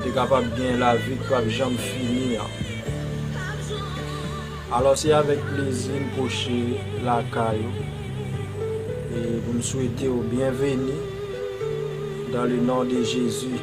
Te kapab gen lavi k pap janm fini an. Alò se avèk plezi m pwoche lakay ou e pou m swete w byenveni dan le non de Jezi.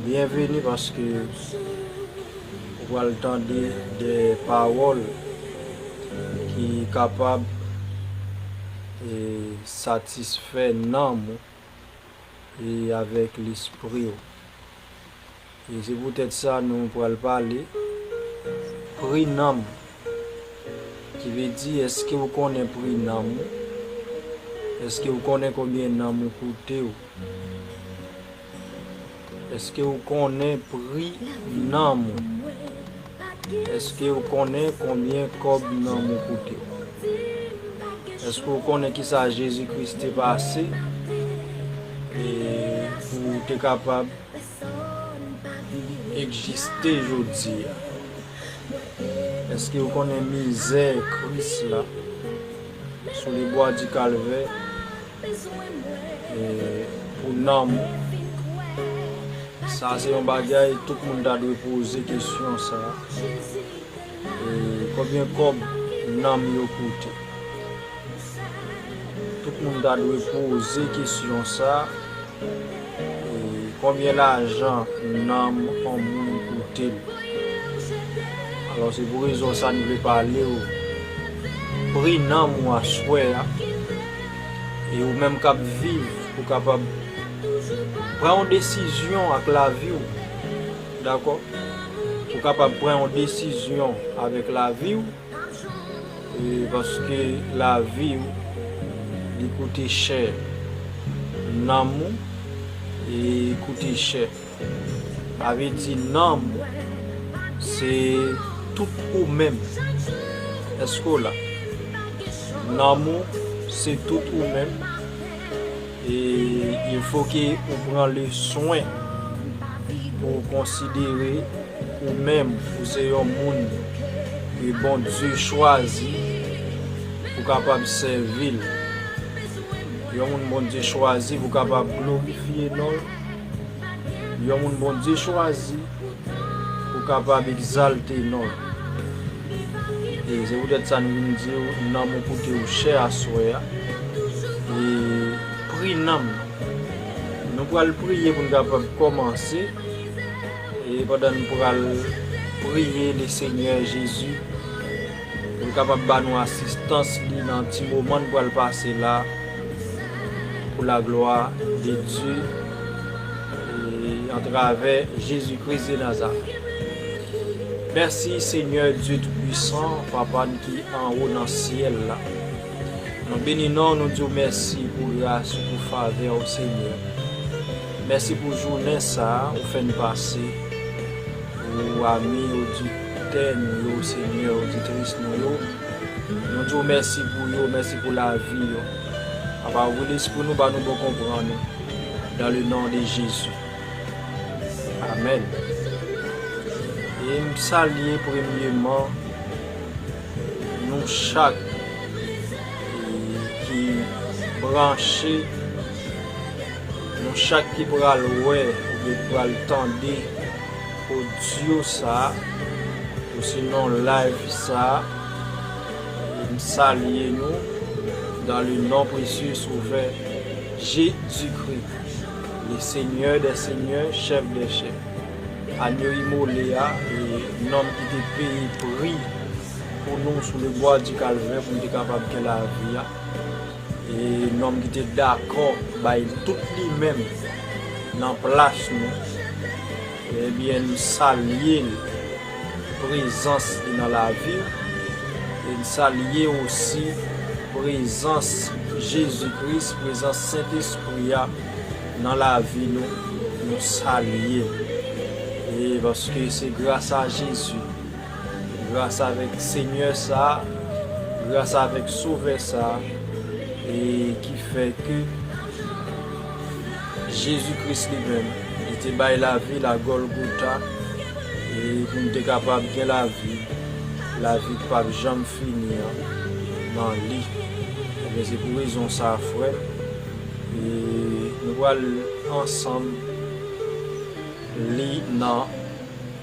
Byenveni paske ou pral tande de pawòl ki kapab satisfè nanm ou. e avèk lespri ou. E se poutèt sa nou pral pale pri nanm ou. Ki vle di èske ou konnen pri nanm ou? Èske ou konnen konbyen nanm ou koute ou? Eske ou konnen pri nanm ou? Eske ou konnen konbyen kòb nanm ou koute? Eske ou konnen kisa Jezi Kris te pase pou ou te kapab ekjiste jodi a? Eske ou konnen mizè Kris la sou lebwa di kalvè? Pou nanm sa se yon bagay tout moun ta dwe poze kesyon sa konbyen kob nanm yo koute tout moun ta dwe poze kesyon sa. Konbyen lajan nanm on moun koute l? Alò se pou rezon sa n vle pale w pri nanm ou aswè a e ou menm k ap viv pou kapab pran yon desizyon ak lavi w dakò pou kapab pran yon desizyon avèk lavi w. Paske lavi ou li koute chè, nanm ou koute chè. Sa vle di nanm ou se tout ou menm. Eske w la? Nanm ou se tout ou menm. E il fo ke ou pran le swen pou w konsidere. Ou menm ou se yon moun ke Bondye chwazi pou kapab sèvi l. Yon moun Bondye chwazi pou kapab glorifye non l. Yon moun Bondye chwazi pou kapab egzalte non l. E se poutèt sa nou vin di ou nanm ou koute ou chè aswè a. E pri nanm nan. Nou pral priye pou nou kapab kòmanse. E pandan n pral priye le Senyè Jezi pou l kapab ba nou asistans li nan ti moman n pral pase la pou laglwa de Dye e antravè Jezi Kris de Nazarèt. Mèsi Senyè Dye Toupuisan, Papa n ki anwo nan syèl la. Nou beni non w, nou di w mèsi pou gras ou, pou favè w Senyè. Mèsi pou jounen sa ou fè n pase pou ami oditè nou yo senyè oditris nou yo nou di w mèsi pou yo mèsi pou lavi yo papa ouvri lespri nou ba nou bon konprann ou dan le non de jezi amèn e m salye premyeman nou chak ki branche. Nou chak ki pral wè oubyen ki pral tande audio sa osinon live sa m salye nou dans le nom précieux et sauveur Jésus Christ le seigneur des seigneurs chef des chefs Agneau immolé a nonm ki te peye pri pou nou sou le bois du calvaire pou nou te kapab gen lavi a. E nonm ki te dakò bay tout li menm nan plas nou, ebyen n salye l prezans li nan lavi w e n salye osi prezans Jezi Kris, prezans Sentespri a nan lavi nou, nou salye l e paske se grasa Jezi. gras avèk Senyè sa, gras avèk Sovè sa, e ki fè ke Jezi Kris li menm, li te bay lavi l a Gòlgota, e pou m te kapab gen lavi, lavi k pap janm fini an nan li. Ebyen, se pou rezon sa a frè m, e nou pral ansanm li nan.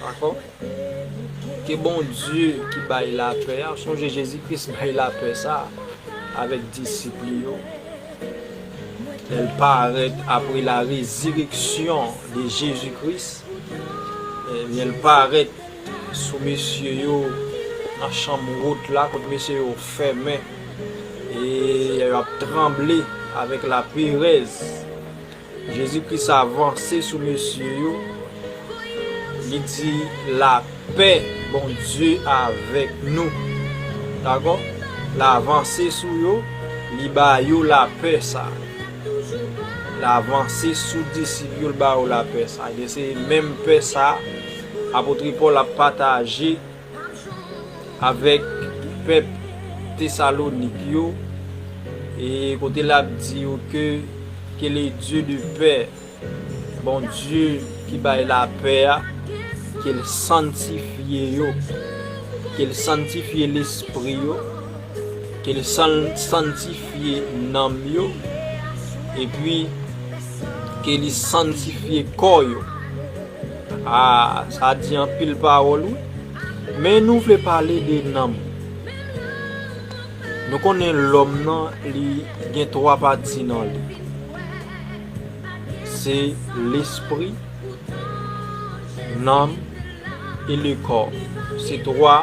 Dakò? Ke Bondye ki bay lapè a, sonje Jezi Kris bay lapè sa a avèk disip li yo, lè l parèt apre la rezireksyon de Jezi Kris, ebyen l parèt sou mesye yo nan chanm wot la kote mesye yo fèmen e yo ap tranble avèk laperèz. Jezi kris a vanse sou mesye yo li di la pè bondye avèk nou dakò la vanse sou yo li ba yo la pè sa la vanse sou disip yo li ba yo la pè sa e se menm pè sa apotre pòl ap pataje avèk pèp Tesalonik yo, e kote l ap di yo ke, Ke le Dye de pè, Bondye ki bay lapè a, ke l sanntifye yo, ke l sanntifye lespri yo, ke l sanntifye nanm yo, epi ke li sanntifye kò yo. Aah sa di anpil pawòl wi. Men nou vle pale de nanm. Nou konnen lòm nan li gen 3 pati nan li. Se lespri, nanm e le kò. Se 3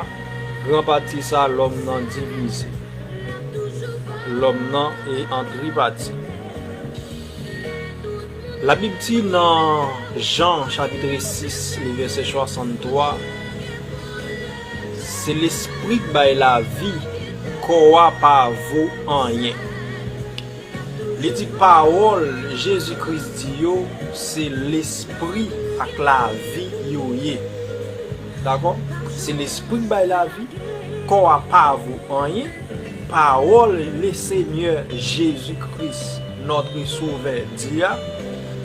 gran pati sa lòm nan divize. Lòm nan e an tripati. Labib di nan Jan chapitre 6 li vèsè 63, Se lespri k bay lavi, kò a pa vo anyen. Li di pawòl Jezi Kris di yo se lespri ak lavi yo ye. Dakò? Se lespri k bay lavi, kò a pa vo anyen. Pawòl Lesenyè Jezi Kris, Notre Sovè, di a,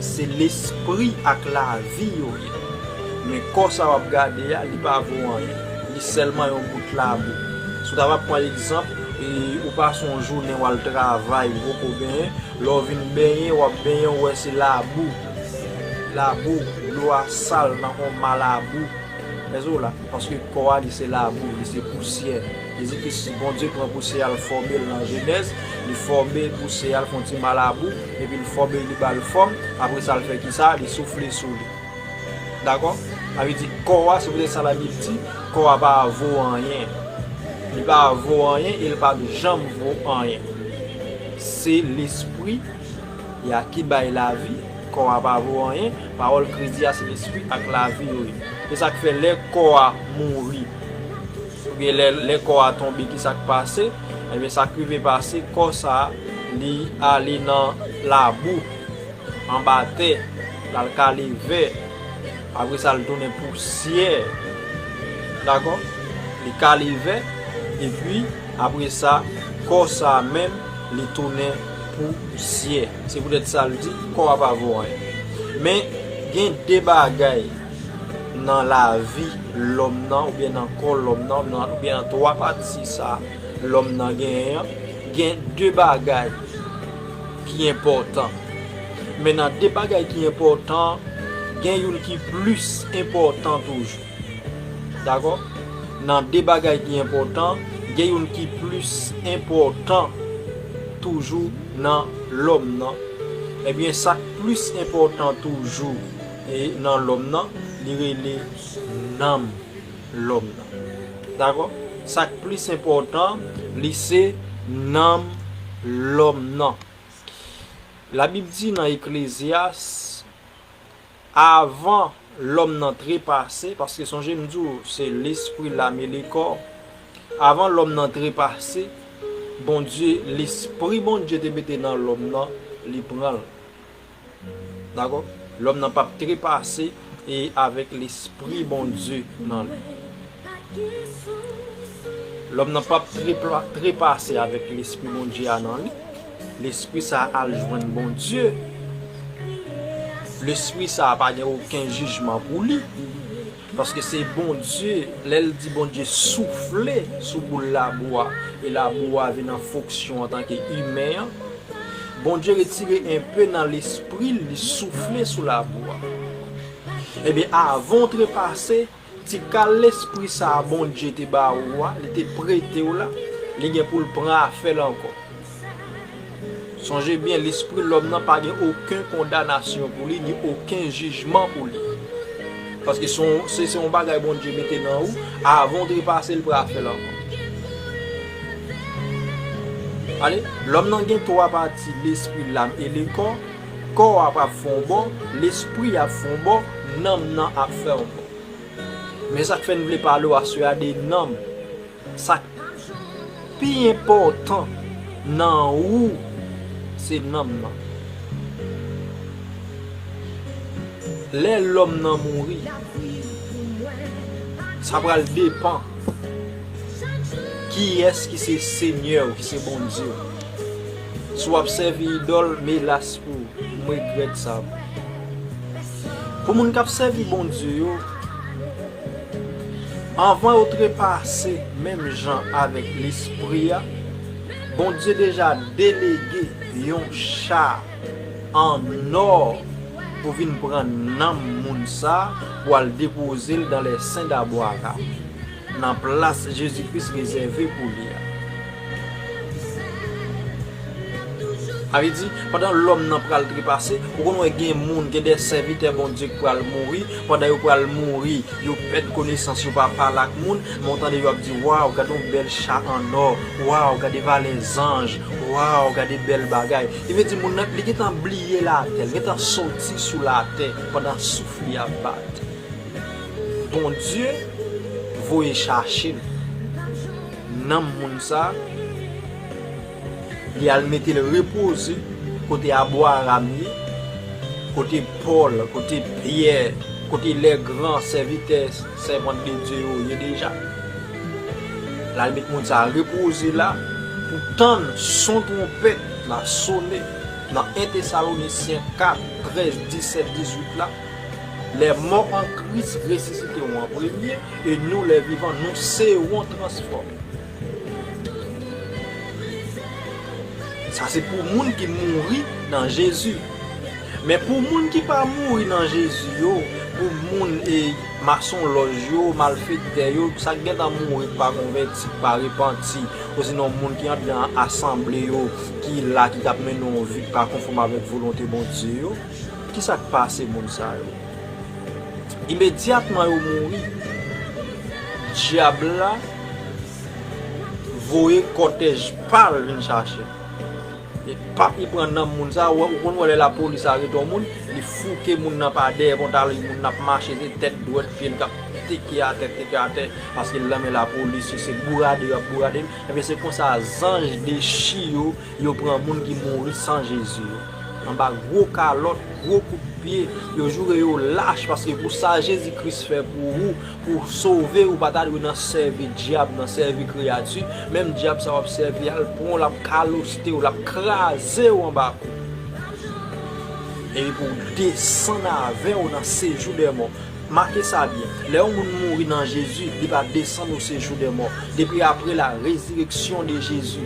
Se lespri ak lavi yo ye. Men kò sa w ap gade a, li pa vo anyen. Li sèlman yon bout labou. Si w ta va pran egzanp, ou pase yon jounen w al travay, ou poko benyen, lè w vin benyen, w ap benyen ou wè se labou. Labou, dlo a sal, nan fè w mal a bou. Paske kò a li se labou, li se pousyè. Li di ke si Bondye pran pouse a l fòme l nan Jenèz, li fòme pouse a l fon ti malabou, epi l fòme li ba l fòm, apre sa l fè kisa? Li soufle sou li. Dakò? Sa vle di kò a, se poutèt sa Labib di, kò a pa vo anyen. Li pa vo anyen e l pap janm vo anyen. Se lespri y a ki bay lavi, kò a pa vo anyen, pawòl Kris di a se lespri ak lavi yo ye. Se sa k fè lè kò a mouri, Oubyen lè lè kò a tonbe ki sak pase? Ebyen sak rive pase kò sa li ale nan labou anba tè lal kale vè apre sa li tounen pousyè dakò li kale vè epi apre sa kò sa menm li tounen pousyè se poutèt sa li di kò a pa vo anyen men gen 2 bagay nan lavi lòm nan oubyen nan kò lòm nan oubyen nan 3 pati sa lòm nan genyen an gen 2 bagay ki enpòtan men nan 2 bagay ki enpòtan gen youn ki plis enpòtan toujou dakò nan 2 bagay ki enpòtan gen youn ki plis enpòtan toujou nan lòm nan ebyen sak plis enpòtan toujou E nan lòm nan, li rele nanm lòm nan. Dakò? Sa k plis enpòtan, li se nanm lòm nan. Labib di nan Eklezyas, avan lòm nan trepase, paske sonje m di w se lespri, lam e lekò, avan lòm nan trepase, Bondye, lespri Bondye te mete nan lòm nan, li pran l. Dakò? Lòm nan pap trepase e avèk lespri Bondye nan li. Lòm nan pap trepase avèk lespri Bondye a nan li. Lespri sa a al jwenn Bondye. Lespri sa a pa gen oken jijman pou li. Paske se Bondye, lè l di Bondye soufle sou boul labou a, e labou a vin an fonksyon antanke imen an, Bondye retire enpe nan lespri l, li soufle sou labou a. Ebyen, avan w trepase, ti kal lespri sa a Bondye te ba ou a, li te prete w la, li gen pou l pran afè l ankò. Sonje byen, lespri lòm nan pa gen oken kondanasyon pou li, ni oken jijman pou li. Paske se se yon bagay Bondye mete nan ou, avan ou trepase l pral fè l ankò. Gade, lòm nan gen twa pati, lespri, lam e le kò. Kò a pral fè yon bò, lespri a ap fè yon bò, nanm nan ap fè yon bò. Men sa k fè n vle pale w aswè a de nanm. Sa k pi enpòtan nan ou se nanm nan. Lè lòm nan mouri, sa pral depan kiyès ki se Senyè ou, ki se Bondye ou. Si w ap sèvi idòl, melas pou ou, m regrèt sa pou ou. Pou moun k ap sèvi Bondye yo. Anvan yo trepase menm jan avèk Lespri a, Bondye deja delege yon cha annò pou vin pran nanm moun sa a pou al depoze l dan lè sen dabwa ka, nan plas Jezi Kris rezève pou li a. Sa vle di, pandan lòm nan pral trepase, ou konn wè gen moun, gen de sèvitè Bondye ki pral mouri, pandan yo pral mouri, yo pèd konesans, yo pa pale ak moun, men w tande yo ap di, waw, gade yon bèl cha annò, waw, gade valè zanj, waw, gade bèl bagay. Ki vle di moun nan, li gen tan bliye latè, li gen tan soti sou latè pandan souf li ap bat. Bondye voye chache l. Nanm moun sa, li al mete l repoze kote Abwaram ye, kote Pòl, kote Pyè, kote lè gran sèvitè, sèvant de Dye yo ye deja. L al met moun sa repoze la pou tann son twonpèt la sone nan 1 Tesalonisyen 4, 13, 17, 18 la. Les morts en Christ resisiteront en premier, et nous, les vivants, nous serons transformés. Sa se pou moun ki mouri nan Jezi. Men pou moun ki pa mouri nan Jezi yo, pou moun e masonlòj yo, malfektè yo, sa ki gentan mouri ki pa konvèti, ki pa repanti, osinon moun ki andan asanble yo, ki la ki t ap mennen yon vi ki pa konfòm avèk volonte Bondye yo, Ki sa k pase moun sa yo? Imedyatman yo mouri, Dyab la voye kòtèj pa l vin chache l. E paf li pran nanm moun sa yo. Ou konn wè lè lapolis arete yon moun, li fouke moun nan pa dèyè pantalon li, moun nan ap mache se tèt dwèt pye l k ap teke atè, teke atè paske l nan men lapolis. Se se bourade yo ap bourade l. Enben se konsa zanj dechi yo, yo pran moun ki mouri san Jezi yo. anba gwo kalòt, gwo kout pye, yo joure yo lach paske pou sa Jezi Kris fè pou ou, pou w sove ou pa ta dwe nan sèvi dyab nan, sèvi kreyati, menm dyab sa w ap sèvi a l pran w l ap kaloste w, l ap kraze w anba kou w. Epi pou w desann avè w nan sejou dèmò. Make sa byen, lè yon moun mouri nan Jezi, li pa desann osejou dèmò, depi apre la rezireksyon de Jezi.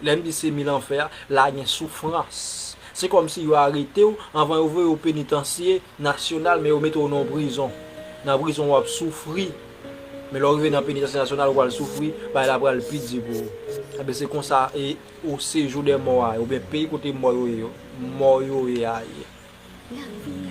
Lè m di se mi lanfè a, la gen soufrans. Se kòm si yo arete w, anvan yo voye w penitansye nasyonal, men yo mete w nan yon prizon. Nan prizon w ap soufri, men lè w rive nan penitansye nasyonal ou pral soufri, bagay la pral pi di pou ou. Enben se konsa e ou sejou dè mò a ye, oubyen peyi kote mò yo ye a ye.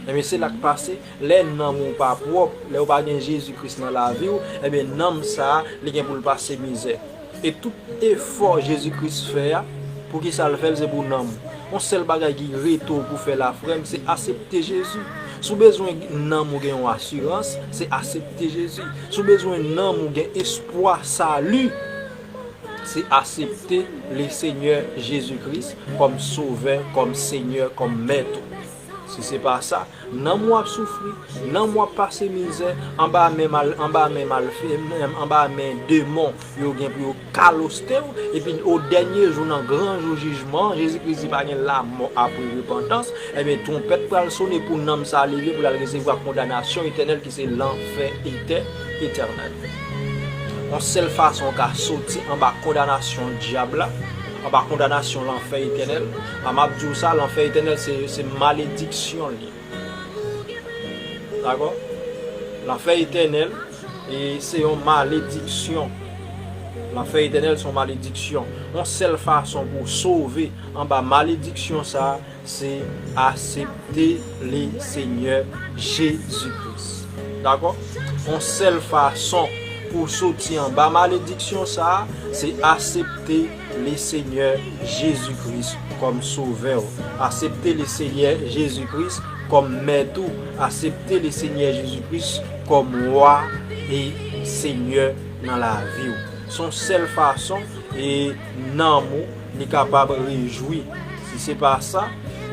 Ebyen se lak pase lè nanm ou pa pwòp, lè ou pa gen Jezi Kris nan laviw, ebyen nanm sa li gen poul pase mizè. E tout efò Jezi Kris fè a, poukisa l fèl se pou nanm ou. On sèl bagay ki rete w pou fè la frèm se asepte Jezi. Si w bezwen nanm ou gen yon asirans, se asepte Jezi. Si w bezwen nanm ou gen espwa sali. se asepte le senyè jezi kris kòm sovè kòm senyè kòm mèt ou si se pa sa nanm ou ap soufri nanm ou ap pase mizè anba men mal anba men malfe anba men demon yo gen pou yo kaloste ou epi o dènye jou nan gran jou jijman an jezi kris di pa gen lamò apre repantans ebyen twonpèt pral sone pou nanm sa leve pou lal resevwa kondanasyon etènèl ki. Se lanfè etè, etènèl. On sèl fason w ka soti anba kondanasyon dyab la, anba kondanasyon lanfè etènèl, a m ap di w sa, lanfè etènèl se malediksyon li. Dakò? Lanfè etènèl e se yon malediksyon. Lanfè etènèl se yon malediksyon. On sèl fason pou w sove anba malediksyon sa a, Se asepte le Senyè Jezi Kris. Dakò? On sèl fason pou w soti anba malediksyon sa a, se asepte le Senyè Jezi Kris kòm Sovè w. Asepte le Senyè Jezi Kris kòm Mèt ou. Asepte le Senyè Jezi Kris kòm Wa e Senyè nan lavi w. Son sèl fason e nanm ou. Li kapab rejwi. Si se pa sa,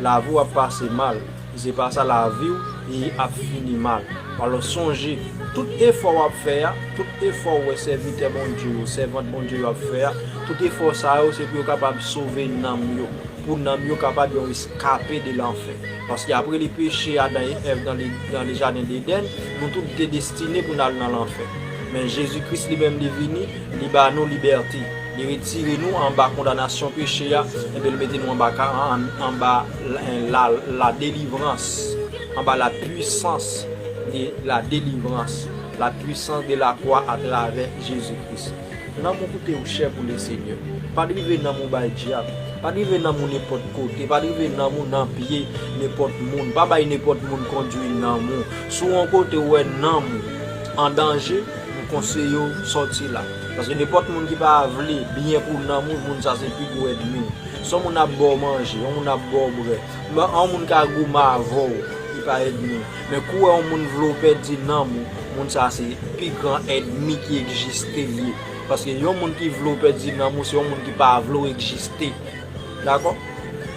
lavi w ap pase mal. Si se pa sa, lavi w ap fini mal. Alò, sonje, tout efò w ap fè a, tout efò ou wè sèvitè Bondye yo, sèvant Bondye yo ap fè a, tout efò sa yo se pou yo kapab sove nanm yo, pou nanm yo kapab yon eskape de lanfè. Paske apre li peche Adan e Èv nan Jaden Dedèn, nou tout te destine pou n al nan lanfè. Men Jezi Kris li menm li vini Li ba nou libète. Li retire nou anba kondanasyon peche a, enben li mete nou anba ka anba la delivrans, anba la pwisans de la delivrans, la pwisans de la kwa atravè Jezi Kris. Nanm ou koute ou chè pou le Senyè. Pa drive nanm ou bay dyab. Pa drive nanm ou nenpòt kote. Pa drive nanm ou nan pye nenpòt moun. Pa bay nenpòt moun kondwi nanm ou. Si w yon kote ou wè nanm ou an danje. M konseye w sòti la. Paske nenpòt moun ki pa vle byen pou nanm ou, moun sa se pi gwo èdmi w. Si yon moun ap ba w manje, yon moun ap ba w bwè, menm yon moun ka goumen avè w, li pa èdmi w. Men kou w wè yon moun vle w pèdi nanm ou, moun sa se pi gran èdmi ki ekjiste l ye. Paske yon moun ki vle w pèdi nanm ou, se yon moun ki pa vle w ekjiste. Dakò?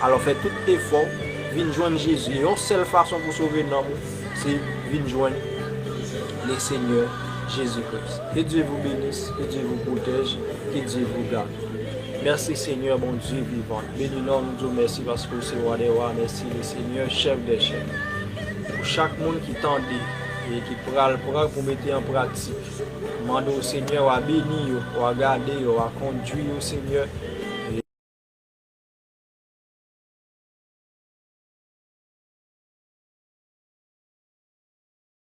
Alò fè tout efò w, vin jwenn Jezi. E yon sèl fason pou w sove nanm ou, se vin jwenn. le seigneur Jesus Christ ke Dieu vous benis ke Dieu vous protège ke Dieu vous garde merci seigneur bon Dieu vivant beni nom ou di w merci paske w se roi des rois merci le seigneur chef des chefs pou chak moun ki tande e ki pral pran pou mete an pratik mande w seigneur wa beni yo wa gade yo wa kondwi yo seigneur.